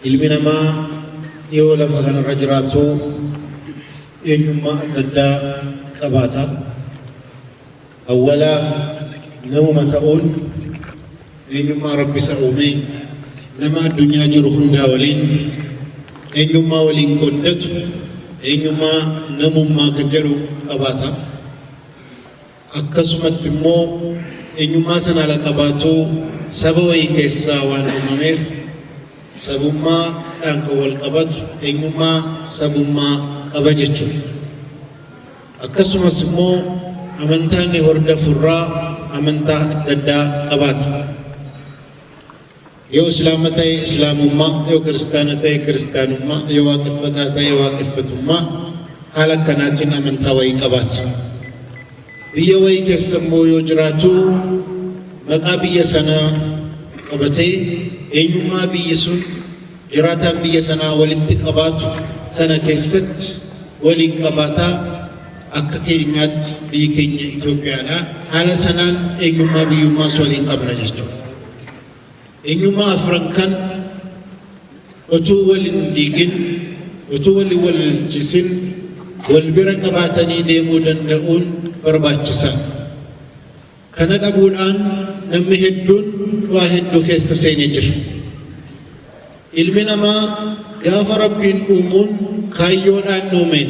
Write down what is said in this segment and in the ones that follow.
Ilmi namaa yoo lafa kanarra jiraatu eenyummaa adda addaa qabaata. Awwala namuma ta'uun eenyummaa Rabbi isa uume nama addunyaa jiru hundaa waliin eenyummaa waliin qooddatu eenyummaa namummaa kan jedhu qabaata. akkasumatti immoo eenyummaa sana ala qabaatuu saba wayii keessaa waan uumameef sabummaa dhaan kan wal qabatu eenyummaa sabummaa qaba jechuudha. Akkasumas immoo amantaa inni hordofu irraa amantaa adda addaa qabaata. Yoo Islaama ta'e Islaamummaa, yoo Kiristaana ta'e Kiristaanummaa, yoo Waaqeffataa ta'e Waaqeffatummaa haala akkanaatiin amantaa wayii qabaata. Biyya wayii keessa immoo yoo jiraatu maqaa biyya sanaa qabatee eenyummaa biyyi sun jiraataan biyya sanaa walitti qabaatu sana keessatti waliin qabaataa akka keenyaatti biyyi keenya Itoophiyaadha. Haala sanaan eenyummaa biyyummaas waliin qabna jechuudha. Enyummaa afran kan otuu wal hin diigin, otuu wal hin walalchiisin wal bira qabaatanii deemuu danda'uun barbaachisaa dha. Kana dhabuudhaan nammi hedduun dhwaa hedduu keessa seenee jira. Ilmi namaa gaafa Rabbiin uumuun kaayyoodhaan uumeen.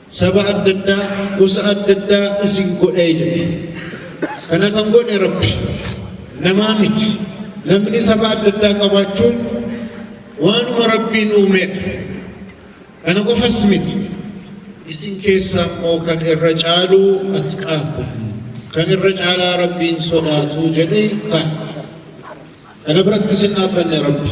Saba adda addaa, gosa adda addaa isin godhee jedhe. Kana kan godhe Rabbi. Namaa miti. Namni saba adda addaa qabaachuun waanuma Rabbiin uumedha. Kana qofas miti. Isin keessaa immoo kan irra caalu atqaakum. Kan irra caalaa Rabbiin sodaatu jedhee kaa'e. Kana biratti isin dhaabbanne Rabbi.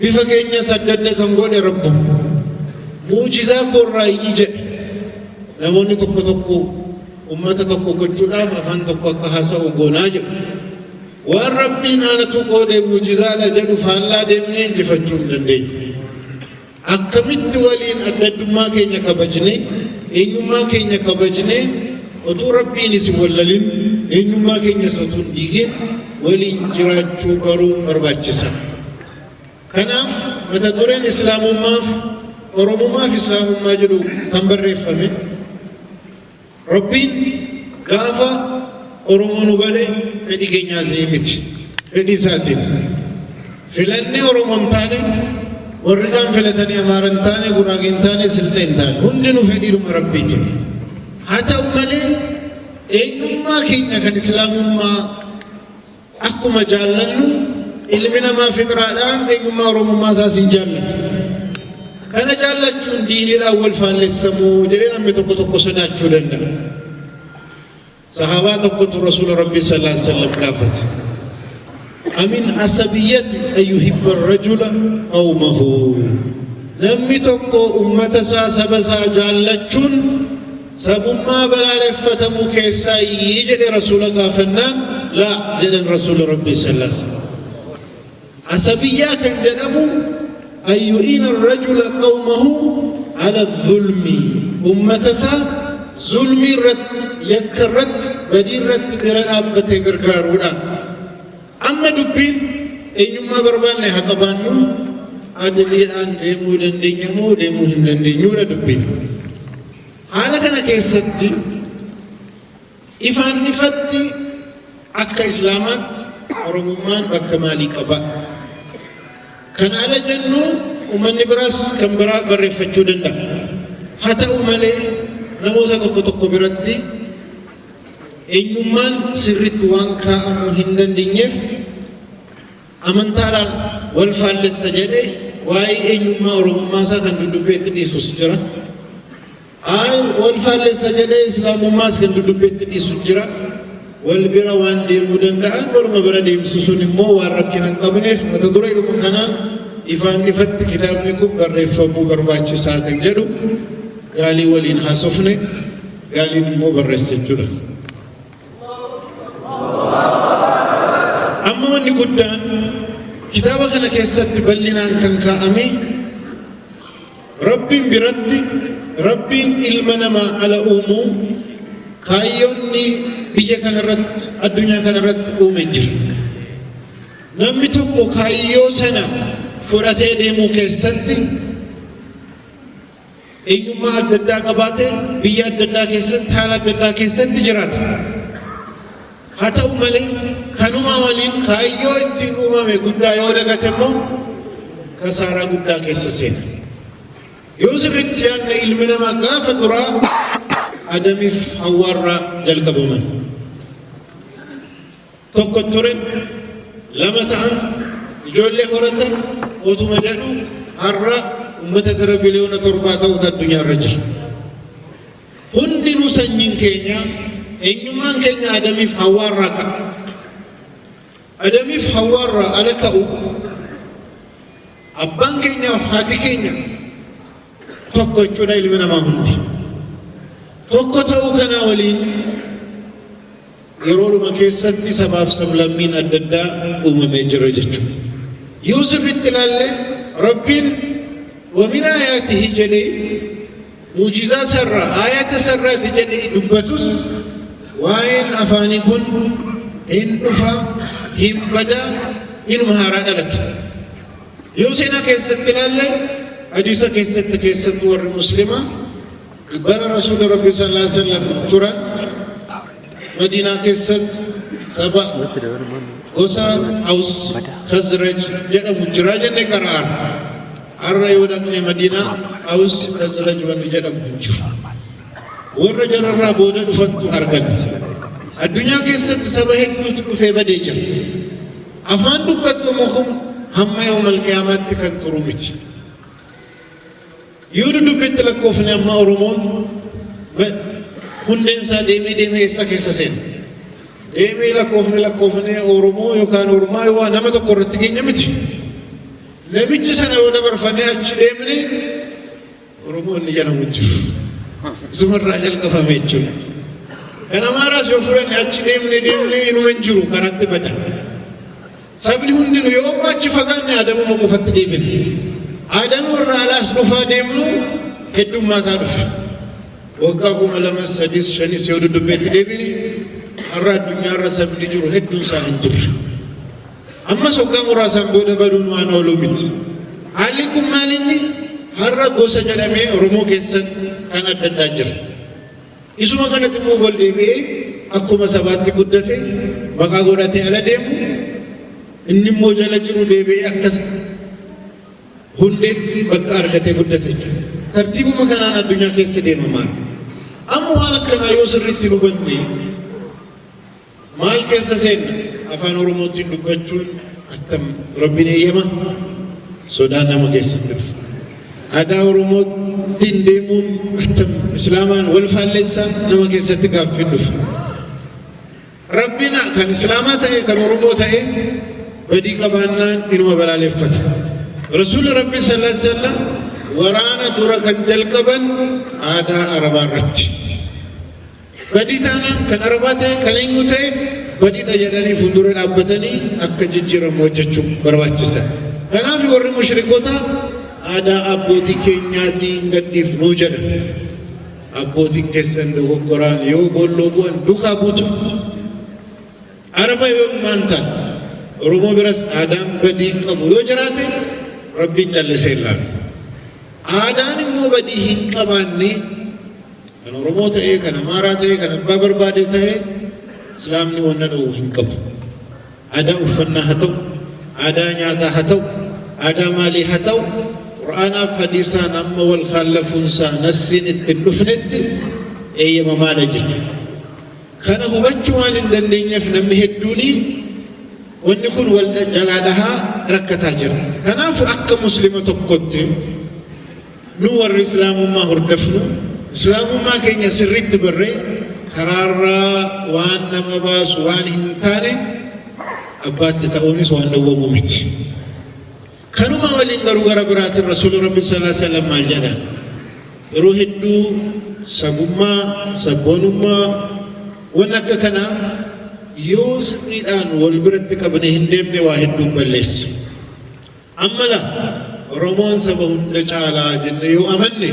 Bifa keenyas adda adda kan godhe Rabbuma. Mu'jizaa koorraayyi jedhe. Namoonni tokko tokko ummata tokko gochuudhaaf afaan tokko akka haasa'u goonaa jedhu. Waan Rabbiin aanatu qoodee mu'jizaadha jedhu faallaa deemnee injifachuu hin dandeenyu. Akkamitti waliin adda addummaa keenya kabajnee eenyummaa keenya kabajnee otuu Rabbiin isin wallalin eenyummaa keenyas otuu hin diigin waliin jiraachuu baruun barbaachisa. Kanaaf mata dureen Islaamummaaf Oromummaaf Islaamummaa jedhu kan barreeffame Rabbiin gaafa Oromoo nu gale fedhii keenyaatiin miti. Fedhii isaatiin. Filannee Oromoo hin taane warri kaan filatanii Amaara hin taane Guraagee hin taane Silxee hin taane hundinuu fedhiidhuma Rabbiitiin. Haa ta'u malee Eenyummaa keenya kan Islaamummaa akkuma jaallannu ilmi namaa fixraadhaan eenyummaa Oromummaa isaas hin jaallatu. Kana jaallachuun diiniidhaan wal faallessamu jedhee namni tokko tokko sodaachuu danda'a. Sahaabaa tokkotu Rasuula Rabbii sallallahu alaihi wasallam gaafate. Amin asabiyati an yuhibba arrajula qawmahu Namni tokko ummata isaa saba isaa jaallachuun sabummaa balaaleffatamu keessaayyi jedhe rasuula gaafannaan laa jedhan rasuula rabbii sallallahu alaihi wasallam. Asabiyyaa kan jedhamu an yu'iina arrajula qawmahu ala zulmi ummata isaa zulmii irratti yakka irratti badii irratti bira dhaabbatee gargaaruudha amma dubbiin eenyummaa barbaanne haa qabaannu adiliidhaan deemuu dandeenya moo deemuu hin dandeenyuudha dubbiin haala kana keessatti Ifaan ifatti akka Islaamaatti Oromummaan bakka maalii qaba? Kana ala jennu ummanni biraas kan biraa barreeffachuu danda'a. Haa ta'u malee namoota tokko tokko biratti eenyummaan sirriitti waan kaa'amuu hin dandeenyeef amantaadhaan wal faallessa jedhee waa'ee eenyummaa Oromummaa isaa kan dudubbeetti dhiisus jira. Ayi wal faallessa jedhee Islaamummaas kan dudubbeetti dhiisu jira. Wal bira waan deemuu danda'an waluma bira deemsisuun immoo waan rakkina hin qabneef mata duree dhuma kanaan ifaan ifatti kitaabni kun barreeffamuu barbaachisaa kan jedhu gaalii waliin haasofne gaaliin immoo barreessa jechuudha. Amma wanni guddaan kitaaba kana keessatti bal'inaan kan kaa'ame Rabbiin biratti Rabbiin ilma namaa ala uumuu kaayyoonni biyya kanarratti addunyaa kanarratti uume hin jiru. Namni tokko kaayyoo sana fudhatee deemuu keessatti eenyummaa adda addaa qabaatee biyya adda addaa keessatti haala adda addaa keessatti jiraata. Haa ta'u malee, kanumaa waliin kaayyoo ittiin uumame guddaa yoo dagate immoo kasaaraa guddaa keessa seena. Yoo sirriitti yaadne ilmi namaa gaafa duraa Adamiif Hawwaarraa jalqabaman. Tokko ture, lama ta'an, ijoollee horatan, otuma jedhu har'a uummata gara biliyoona torbaa ta'utu addunyaarra jira. Hundinuu sanyiin keenya, eenyummaan keenya Adamiif Hawwaarraa ka'a. Adamiif Hawwaarraa ala ka'u abbaan keenyaaf haati keenya tokko jechuudha ilmi namaa hundi. Tokko ta'uu kanaa waliin Yeroodhuma keessatti sabaaf sablammiin adda addaa uumamee jira jechuudha. Yoo sirriitti ilaalle Rabbiin wamin aayaatihi jedhee muujizaa sarraa aayata sarraati jedhee dubbatus waa'een afaanii kun hin dhufa hin bada inuma haaraa dhalata. Yoo seenaa keessatti ilaalle hadiisa keessatti keessattuu warri muslimaa Bara Rasuulli Rabbii sallallaahu aleyhi wa sallam turan Madiinaa keessatti saba gosa Aws Khazraj jedhamu jira jenne qara'aan. Har'a yoo dhaqne Madiinaa Aws Khazraj wanni jedhamu hin jiru. Warra jararraa booda dhufantu argame. Addunyaa keessatti saba hedduutu dhufee badee jira. Afaan dubbatamu kun hamma yoomal qiyaamaatti kan turu miti. Yoo dudubbitti lakkoofne ammaa Oromoon hundeen isaa deemee deemee eessa keessa seena? Deemee lakkoofne lakkoofne Oromoo yookaan Ormaa yoo nama tokko irratti keenya miti. Namichi sana yoo dabarfannee achi deemne Oromoo inni jedhamu jiru. Isumarraa jalqabame jechuudha. Kan Amaaraas yoo fudhanne achi deemne deemne inuma hin jiru karaatti bada. Sabni hundinu yoommu achi fagaanne Adamuma qofatti deebina. Adama irraa ala as dhufaa deemnu heddummaataa dhufe. Waggaa kuma lamas sadis shanis yoo duddubbeetti deebine har'a addunyaa irra sabni jiru hedduun isaa hin turre. Ammas waggaa muraasaan booda baduun waan ooluu miti. Haalli kun maalinni har'a gosa jedhamee Oromoo keessatti kan adda addaa jira. Isuma kanatti immoo wal deebi'ee akkuma sabaatti guddate maqaa godhatee ala deemu inni immoo jala jiru deebi'ee akkas hundeetti bakka argatee guddate jechuudha. Tartiibuma kanaan addunyaa keessa deemamaa. Amma waan akkanaa yoo sirriitti hubanne Maal keessa seenna? Afaan Oromootiin dubbachuun attam Rabbiin eeyyama? Sodaan nama keessatti dhufa. Aadaa Oromootiin deemuun attam Islaamaan wal faallessa nama keessatti gaaffiin dhufa. Rabbiin kan Islaamaa ta'e kan Oromoo ta'e badii qabaannaan inuma balaaleffata. Rasuulli Rabbii sallallahu alaihi wasallam waraana dura kan jalqaban aadaa Arabaa irratti. Badii taanaan kan Arabaa ta'e kan eenyuu ta'e badiidha jedhanii fuuldura dhaabbatanii akka jijjiiramu hojjechuu barbaachisa. Kanaaf warri mushrikootaa aadaa abbootii keenyaatii hin gadhiifnuu jedha. Abbootiin keessan dogoggoraan yoo boolloo bu'an duukaa buutu. Araba yoo ilmaan ta'an Oromoo biras aadaan badii qabu yoo jiraate rabbiin callisee ilaalu. Aadaan immoo badii hin qabaanne Kan Oromoo ta'ee, kan Amaaraa ta'ee, kan abbaa barbaadee ta'ee Islaamni wanna dhowwu hin qabu. Aadaa uffannaa haa ta'u, aadaa nyaataa haa ta'u, aadaa maalii haa ta'u, Qur'aanaaf hadiisaan amma wal kaallafuunsaa nassiin itti hin dhufnetti eeyyamamaadha jechuudha. Kana hubachuu waan hin dandeenyeef namni hedduuni wanni kun wal jalaa dhahaa rakkataa jira. Kanaaf akka muslima tokkotti Nu warri Islaamummaa hordofnu Islaamummaa keenya sirriitti barree karaarraa waan nama baasu waan hin taane abbaatti ta'uunis waan dhowwamu miti. Kanuma waliin garuu gara biraatiin Rasuulli Rabbi sallallahu alaihi wasallam maal jedha? Yeroo hedduu sabummaa, sabboonummaa waan akka kanaa yoo sirriidhaan wal biratti qabne hin deemne waa hedduu balleessa. Amma laa Oromoon saba hunda caalaa jenne yoo amanne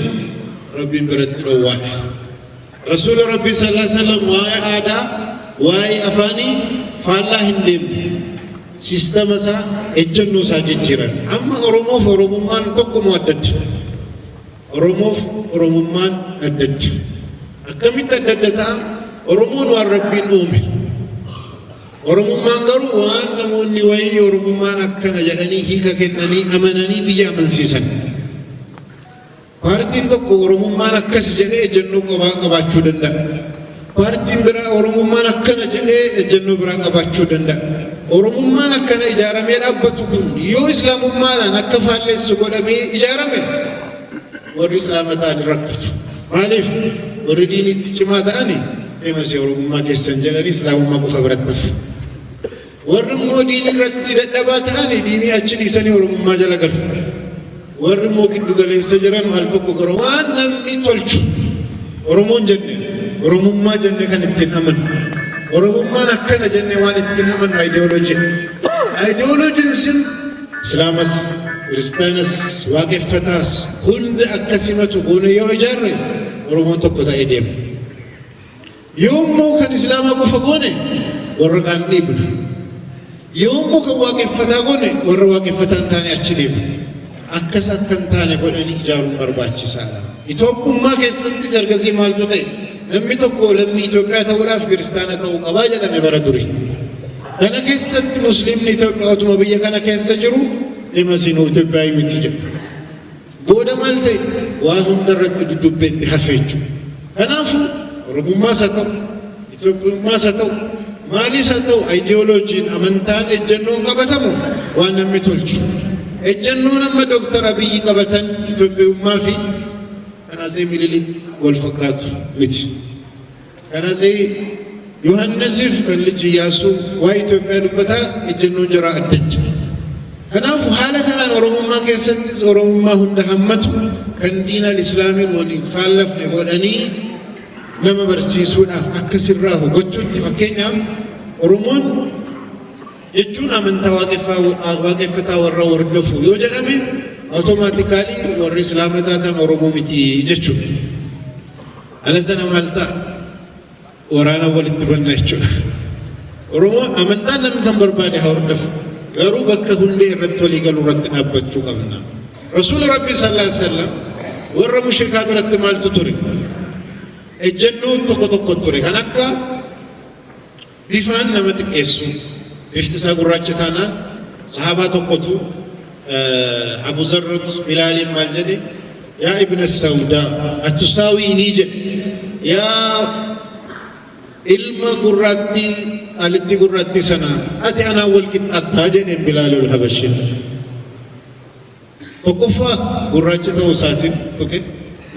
Rabbiin biratti dhowwaadha. Rasuula Rabbii sallallahu alaihi wasallam waa'ee aadaa, waa'ee afaanii faallaa hin deemne. Siistama isaa, ejjennoo isaa jijjiiran. Amma Oromoof Oromummaan tokkuma addatti. Oromoof Oromummaan addatti. Akkamitti adda adda ta'a? Oromoon waan Rabbiin uume. Oromummaan garuu waan namoonni wayii Oromummaan akkana jedhanii hiika kennanii amananii biyya amansiisan. Paartiin tokko Oromummaan akkas jedhee ejjennoo qobaa qabaachuu danda'a. Paartiin biraa Oromummaan akkana jedhee ejjennoo biraa qabaachuu danda'a. Oromummaan akkana ijaaramee dhaabbatu kun yoo Islaamummaadhaan akka faallessu godhamee ijaarame Warri Islaama ta'an hin rakkatu. Maaliif? Warri diiniitti cimaa ta'an famous Oromummaa keessan jedhanii Islaamummaa qofa biratti hafu. Warri immoo diinii irratti dadhabaa ta'an diinii achi dhiisanii Oromummaa jala galu. Warri immoo giddu galeessa jiran al tokko gara waan namni tolchu Oromoon jenne Oromummaa jenne kan ittiin amanu. Oromummaan akkana jenne waan ittiin amanu ideology. Ideology sin Islaamas, Kiristaanas, Waaqeffataas hunda akka simatu goone yoo ijaarre Oromoon tokko ta'ee deema. Yoo immoo kan Islaamaa qofa goone warra kaan dhiibna. Yoo immoo kan Waaqeffataa goone warra Waaqeffataa hin taane achi deema. Akkas akka hin taane godhanii ijaaruun barbaachisaadha. Itoophummaa keessattis ergasii maaltu ta'e? Namni tokko lammii Itoophiyaa ta'uudhaaf kiristaana ta'uu qabaa jedhame bara durii. Kana keessatti Musliimni Itoophiyaa otuma biyya kana keessa jiru dhimma siin Itoophiyaa miti jedhu. Booda maal ta'e waa hunda irratti duddubbee itti hafee jechuudha. Kanaafuu Oromummaas haa ta'u, Itoophiyummaas haa ta'u, maaliis haa ta'u ayidiyooloojiin amantaan ejjennoon qabatamu waan namni tolchu. Ejjennoon amma Dooktar Abiyyi qabatan Itoophiyummaa fi kan Atsee Minilik wal fakkaatu miti. Kanasi Yohannisiif kan liji Iyyaasuu waa'ee Itoophiyaa dubbataa ejjennoon jaraa addacha. Kanaafu haala kanaan Oromummaa keessattis Oromummaa hunda hammatu kan diinaan Islaamiin waliin faallafne godhanii nama barsiisuudhaaf akka sirraa hubachuutti fakkeenyaaf Oromoon jechuun amantaa waaqeffataa warra hordofu yoo jedhame automaatikaalii warri Islaama taatan Oromoo miti jechuudha. Ala sana maal ta'a? Waraana walitti banna jechuudha. Oromoo amantaa namni kan barbaade haa hordofu. Garuu bakka hundee irratti walii galuu irratti dhaabbachuu qabna. Rasuula Rabbi sallallahu alaihi wasallam warra mushrikaa biratti maaltu ture? Ejjennoo tokko tokko ture kan akka Bifaan nama xiqqeessu. Bifti isaa gurraacha taanaan sahaabaa tokkotu Abu Zarrut Bilaaliin maal jedhe? Yaa ibna Sawdaa atusaawiinii jedhe. Yaa ilma gurraattii alitti gurraattii sana ati anaan wal qixxaattaa jedheen Bilaalul Habashiin. Tokkoffaa gurraacha ta'uu isaatiin tuqe.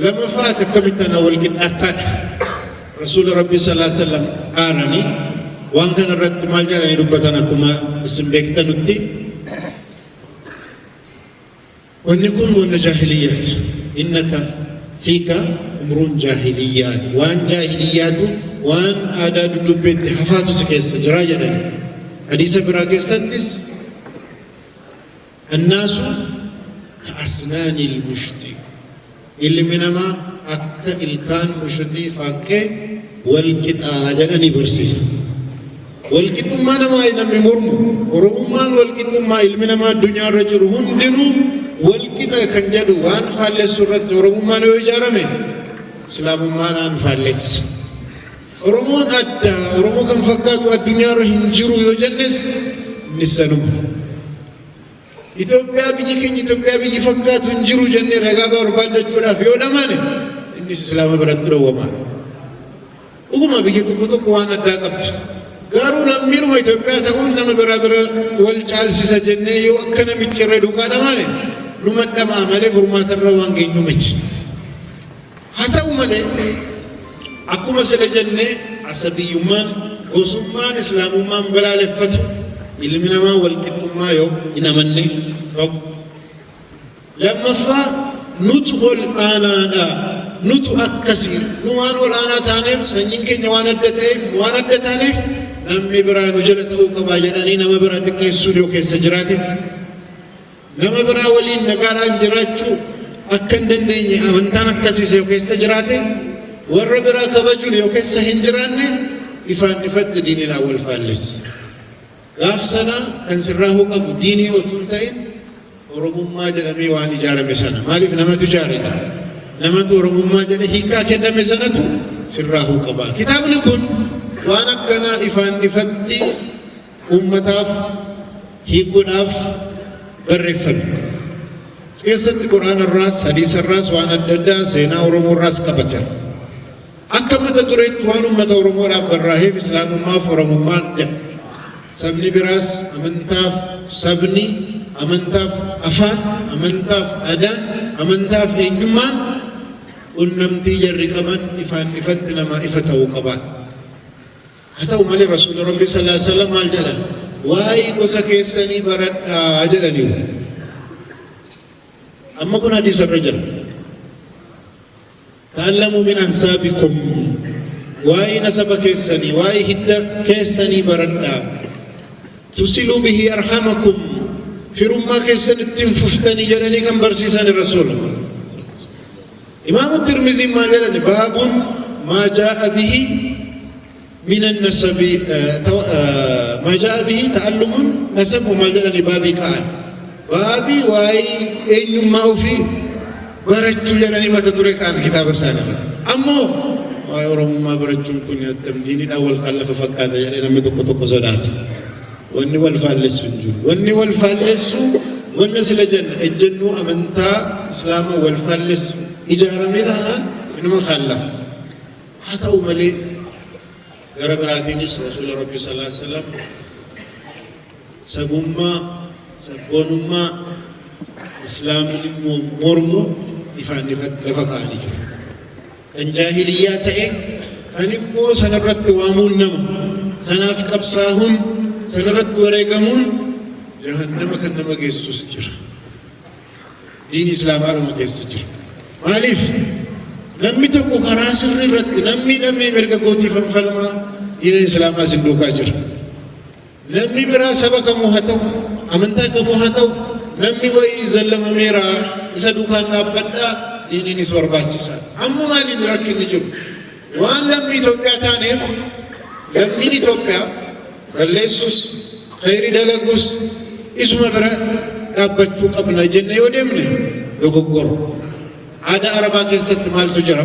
Lammaffaa ati akkamitti anaa wal qixxaattaadha. Rasuula Rabbii sallallahu alaihi wasallam aaranii waan kana irratti maal jedhanii dubbatan akkuma isin beektanutti wanni kun wanna jaahiliyyaati. Innaka fiika umruun jaahiliyyaati. Waan jaahiliyyaatu waan aadaa dudubbeetti hafaatu si keessa jira jedhani. Hadiisa biraa keessattis Annaasu ka'asnaani lmushxi Ilmi namaa akka ilkaan mushuxii faaqqee wal qixa jedhanii barsiisan. Wal qixxummaa namaa namni mormu Oromummaan wal qixxummaa ilmi namaa addunyaa irra jiru hundinuu wal qixa kan jedhu waan faallessu irratti Oromummaan yoo ijaarame Islaamummaadhaan faallessa. Oromoon adda, Oromoo kan fakkaatu addunyaarra hin jiru yoo jennes innis sanuma. Itoophiyaa biyyi keenya Itoophiyaa biyyi fakkaatu hin jiru jennee ragaa barbaaddachuudhaaf yoo dhamane innis Islaama biratti dhowwamaa. Dhuguma biyya tokko tokko waan addaa qabdi. Garuu lammiinuma Itoophiyaa ta'uun nama biraa bira wal caalsisa jennee yoo akka namichi irra duukaa dhamane numa dhamaa malee furmaatarra waan geenyu miti. Haa ta'u malee, akkuma sila jenne asabiyyummaan, gosummaan Islaamummaan balaaleffatu ilmi namaa walqixxummaa yoo hin amanne tokko. Lammaffaa nutu ol aanaadha, nutu akkasi, nu waan ol aanaa taaneef, sanyiin keenya waan adda ta'eef, nu waan adda taaneef namni biraa nu jala ta'uu qaba jedhanii nama biraa xiqqeessuun yoo keessa jiraate Nama biraa waliin nagaadhaan jiraachuu akka hin dandeenye amantaan akkasiis yoo keessa jiraate warra biraa kabajuun yoo keessa hin jiraanne ifaan ifatti diiniidhaan wal faallessa. Gaaf sana kan sirraa hubamu diinii otoo hin ta'in Oromummaa jedhamee waan ijaarame sana maaliif namatu ijaaredha. Namatu Oromummaa jedhe hiikaa kenname sanatu sirraa hubama. Kitaabni kun waan akkanaa ifaan ifatti ummataaf hiikuudhaaf barreeffame. As keessatti Qur'aana irraas, hadiisa irraas waan adda addaa seenaa Oromoo irraas qaba jira. Akka mata dureetti waan ummata Oromoodhaaf barraaheef Islaamummaaf Oromummaan jedha. Sabni biraas amantaaf sabni, amantaaf afaan, amantaaf aadaan, amantaaf eenyummaan qunnamtii jarri qaban ifaan ifatti namaa ifa ta'uu qabaa. Haa ta'u malee Rasuulli Rabbii sallallaahu aleyhi wa sallam maal jedhan? Waa'ee gosa keessanii baradhaa jedhaniiru. Amma kun hadiisa irra jira. Ta'allamuu min ansaabikum waa'ee nasaba keessanii waa'ee hidda keessanii baradhaa. Tusiluu bihi arhamakum firummaa keessan ittiin fuftanii jedhanii kan barsiisan Rasuula. Imaamu Tirmiziin maal jedhani baabun maa jaa'a bihi minan nasabi maa jaa'a bihi ta'allumun nasab maal jedhani baabii ka'an baabii waa'ee eenyummaa ofii barachuu jedhanii mata dure ka'an kitaaba isaanii ammoo waa'ee oromummaa barachuun kun addam diinidhaan wal kallafa fakkaata jedhee namni tokko tokko sodaata. Wanni wal faallessu hin jiru. Wanni wal faallessu wanna sila jenna ejjennoo amantaa Islaama wal faallessu ijaaramee taanaan inuma kaallafa. Haa ta'u malee gara biraatiinis Rasuula Rabbi sallallahu alaihi wasallam sabummaa sabboonummaa Islaamni mormu ifaan lafa kaa'anii jiru. kan jaahiliyyaa ta'e kan immoo sanarratti waamuun nama sanaaf qabsaahuun sanarratti wareegamuun jahannama kan nama geessus jira diin islaamaa nama keessa jira maaliif namni tokko karaa sirri irratti namni namni mirga kootiif falmaa diina islaamaa isin duukaa jira Namni biraa saba kamuu haa ta'u, amantaa kamuu haa ta'u, namni wayii zallamameera isa duukaan dhaabbadhaa, diiniinis barbaachisaadha. Amma maal inni rakkinni jiru? Waan lammii Itoophiyaa taaneef lammiin Itoophiyaa balleessus, khayrii dalagus isuma bira dhaabbachuu qabna jennee yoo deemne dogoggora. Aadaa Arabaa keessatti maaltu jira?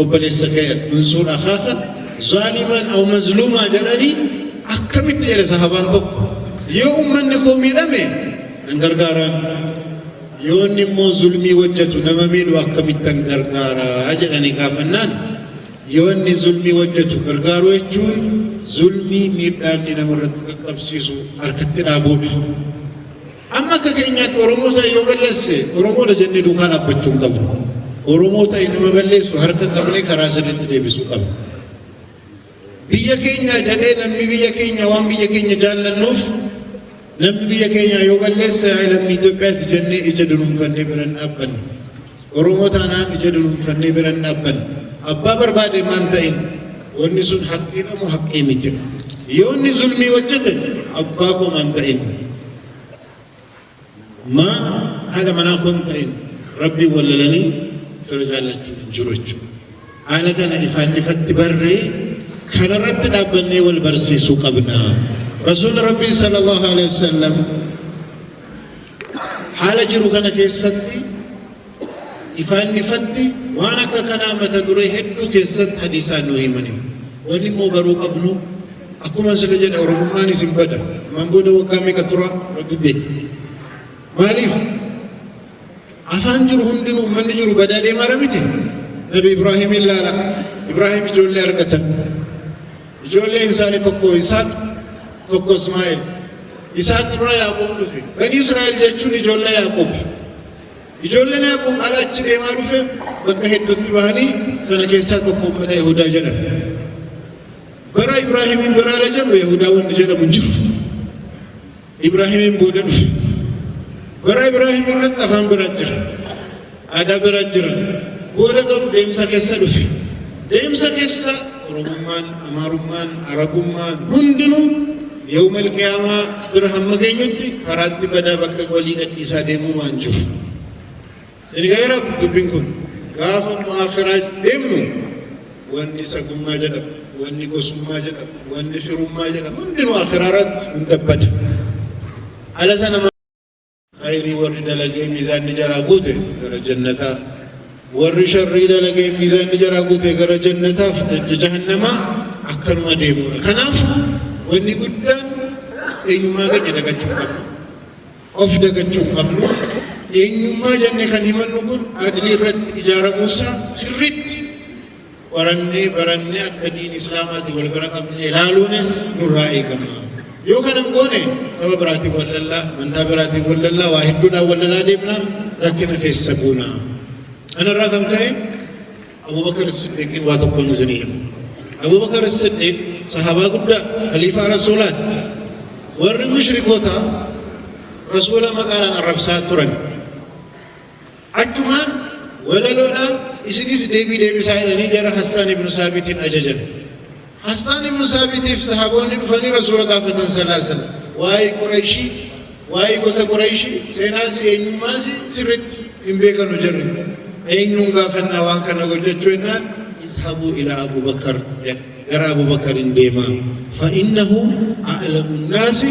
Obboleessa kee adunsuun akaaka zaalimaan aw mazluumaa jedhanii akkamitti jedhe sahabaan tokko yoo ummanni koo miidhame nan gargaaraan yoo inni immoo zulmii hojjetu nama miidhu akkamittan gargaaraa jedhanii gaafannaan yoo inni zulmii hojjetu gargaaruu jechuun zulmii miidhaa inni namarratti qaqqabsiisu harkatti dhaabuudha. Amma akka keenyaatti Oromoo ta'e yoo balleesse Oromoodha jennee duukaa dhaabbachuu hin qabnu. Oromoo ta'e nama balleessu harka qabnee karaa sirriitti deebisuu qabna. Biyya keenya jedhee namni biyya keenya waan biyya keenya jaallannuuf namni biyya keenya yoo balleesse lammii Itoophiyaati jennee ija dunuunfannee bira hin dhaabbanne. Oromoo taanaan ija dunuunfannee bira hin dhaabbannu. Abbaa barbaade maan ta'in wanni sun haqqiidha moo haqqii miti? Yoo inni zulmii hojjete abbaa koo maan ta'in? Maa haadha manaa koo hin ta'in? Rabbiin wallalanii fira jaallachuun hin jiru jechuudha. Haala kana ifaan ifatti barree kanarratti dhaabbannee wal barsiisuu qabna. Rasuulli Rabbii sallallahu alaihi wasallam Haala jiru kana keessatti ifaan ifatti waan akka kanaa mata duree hedduu keessatti hadiisaan nu himaniiru. Wanni immoo baruu qabnu akkuma sila jedha Oromummaan isin bada. Ammaan booda waggaa meeqa tura rabbi beeka. Maaliif? Afaan jiru hundinuu uummanni jiru badaa deemaara miti. Nabi Ibraahiim ilaala. Ibraahiim ijoollee argatan. Ijoolleen isaanii tokko Isaaq, tokko Ismaa'eel. Isaaq irraa Yaaqoob dhufe. Bani Israa'el jechuun ijoollee Yaaqoob. Ijoolleen Yaaqoob ala achi deemaa dhufe bakka hedduutti bahanii kana keessaa tokko uummata Yahudaa jedhama. Bara Ibraahimiin biraala jedhu Yahudaa wanti jedhamu hin jiru. Ibraahiimiin booda dhufe. Bara Ibraahim irratti afaan bira jira. Aadaa bira jira. Booda garuu deemsa keessa dhufe. Deemsa keessa Oromummaan, Amaarummaan, Arabummaan hundinuu yawmal qiyaamaa bira hamma geenyutti karaatti badaa bakka walii gadhiisaa deemuu waan jiru. Sini galera dubbin kun gaafa mu'akhiraaj deemnu wanni sagummaa jedhamu wanni gosummaa jedhamu wanni firummaa jedhamu hundinuu akhiraa irratti hunda bada ala sana khayrii warri dalagee miizaanni jaraa guute gara jannataa warri sharrii dalagee miizaanni jaraa guute gara jannataaf dajja jahannamaa akkanuma deemuudha kanaaf wanni guddaan eenyummaa keenya dagachuu qabna Of dagachuu hin qabnu. Eenyummaa jennee kan himannu kun adlii irratti ijaaramuu isaa sirriitti qorannee barannee akka diin islaamaatiin wal bira qabnee ilaaluunis nurraa eegama. Yoo kana hin goone nama biraatiin wal lallaa, amantaa biraatiin wal lallaa, waa hedduudhaan wal lalaa deemna, rakkina keessa buuna. Kanarraa kan ka'e Abubakar As-Siddiiqiin waa tokkoon isinii hima. Abubakar As-Siddiiq sahaabaa guddaa khaliifaa Rasuulaatti. Warri mushrikootaa Rasuula maqaadhaan arrabsaa turan. Achumaan walaloodhaan isinis deebii deebisaa jedhanii jara Hassaan ibnu Saabitiin ajajan. Hassaan ibnu Saabitiif Sahaboonni dhufanii Rasuula gaafatan sallaa sallam. Waa'ee Qurayshii, waa'ee gosa Qurayshii, seenaasii, eenyummaasii sirritti hin beekanu jarri. Eenyuun gaafanna waan kana hojjachuu jennaan Izhabuu ilaa Abuu Bakar jedha. Gara Abuu Bakariin deemaa. Fa'innahu a'lamu nnaasi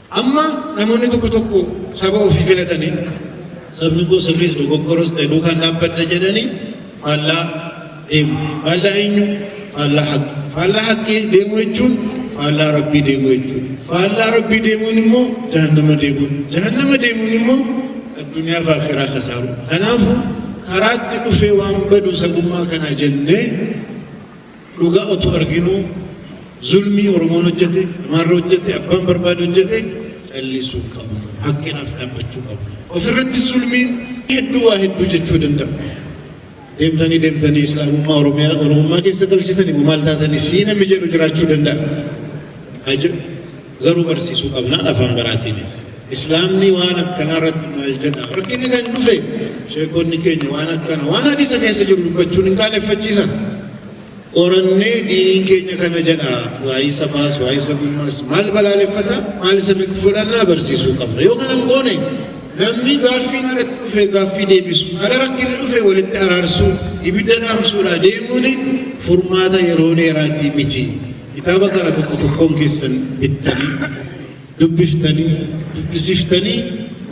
Amma namoonni tokko tokko saba ofii filatanii sabni koo sirriis dogoggoros ta'e duukaan dhaabbadha jedhanii faallaa deemu. Faallaa eenyu? Faallaa haqqi. Faallaa haqqii deemuu jechuun faallaa rabbii deemuu jechuudha. Faallaa rabbii deemuun immoo jahannama deemuu. Jahannama deemuun immoo addunyaa fi akhiraa kasaaru. Kanaafuu karaatti dhufee waan badu sabummaa kana jennee Dhugaa otuu arginuu zulmii Oromoon hojjete, Amaarri hojjete, abbaan barbaade hojjete callisuu hin qabnu. Haqqinaaf dhaabbachuu qabna. Ofirratti zulmiin hedduu waa hedduu jechuu danda'a. Deemtanii deemtanii Islaamummaa Oromiyaa Oromummaa keessa galchitanii maal taatanii sii namni jedhu jiraachuu danda'a. Haa jedhu. Garuu barsiisuu qabnaan afaan baraatiinis. Islaamni waan akkanaa irratti maal jedha? Rakkinni kan dhufe sheekonni keenya waan akkana waan hadiisa keessa jiru dubbachuun hin qaaneffachiisan. Qorannee diiniin keenya kana jedha waa'ee sabaas waa'ee sabummaas maal balaaleffata maal sirriitti fudhannaa barsiisuu qabna. Yoo kana hin goone namni gaaffiin alatti dhufe gaaffii deebisu ala rakkinni dhufe walitti araarsuu ibidda dhaamsuudha deemuun furmaata yeroo dheeraatii miti. Kitaaba kana tokko tokkoon keessan bittanii, dubbiftanii, dubbisiftanii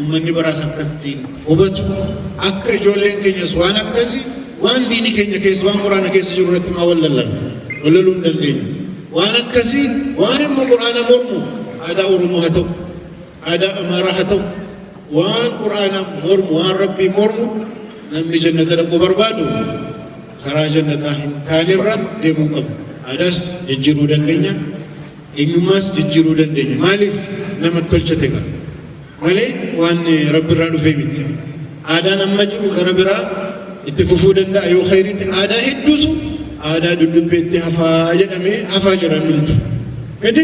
ummanni baraas akka ittiin hubatu akka ijoolleen keenyas waan akkasi waan diini keenya keessa waan quraana keessa jiru irratti maa wallallan wallaluu hin dandeenyu. Waan akkasii waan immoo quraana mormu aadaa Oromoo haa ta'u aadaa Amaaraa haa ta'u waan quraana mormu waan rabbii mormu namni jannata dhaquu barbaadu Karaa jannataa hin taanerra deemuu qabna. Aadaas jijjiiruu dandeenya, eenyummaas jijjiiruu dandeenya. Maaliif nama tolcha tega malee waan rabbi irraa dhufee miti. Aadaan amma jiru gara biraa itti fufuu danda'a yoo khayriitti aadaa hedduutu aadaa duddubbeetti hafaa jedhamee hafaa jiran dhumtu. Miti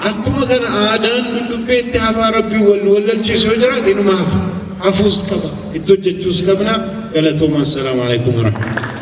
akkuma kana aadaan duddubbee itti hafaa rabbiin wal nu wallalchiisu yoo jiraate inuma hafa. Hafuus qaba. Itti hojjechuus qabna. Galatoomaa. Assalaamu alaikum warahmatullahi.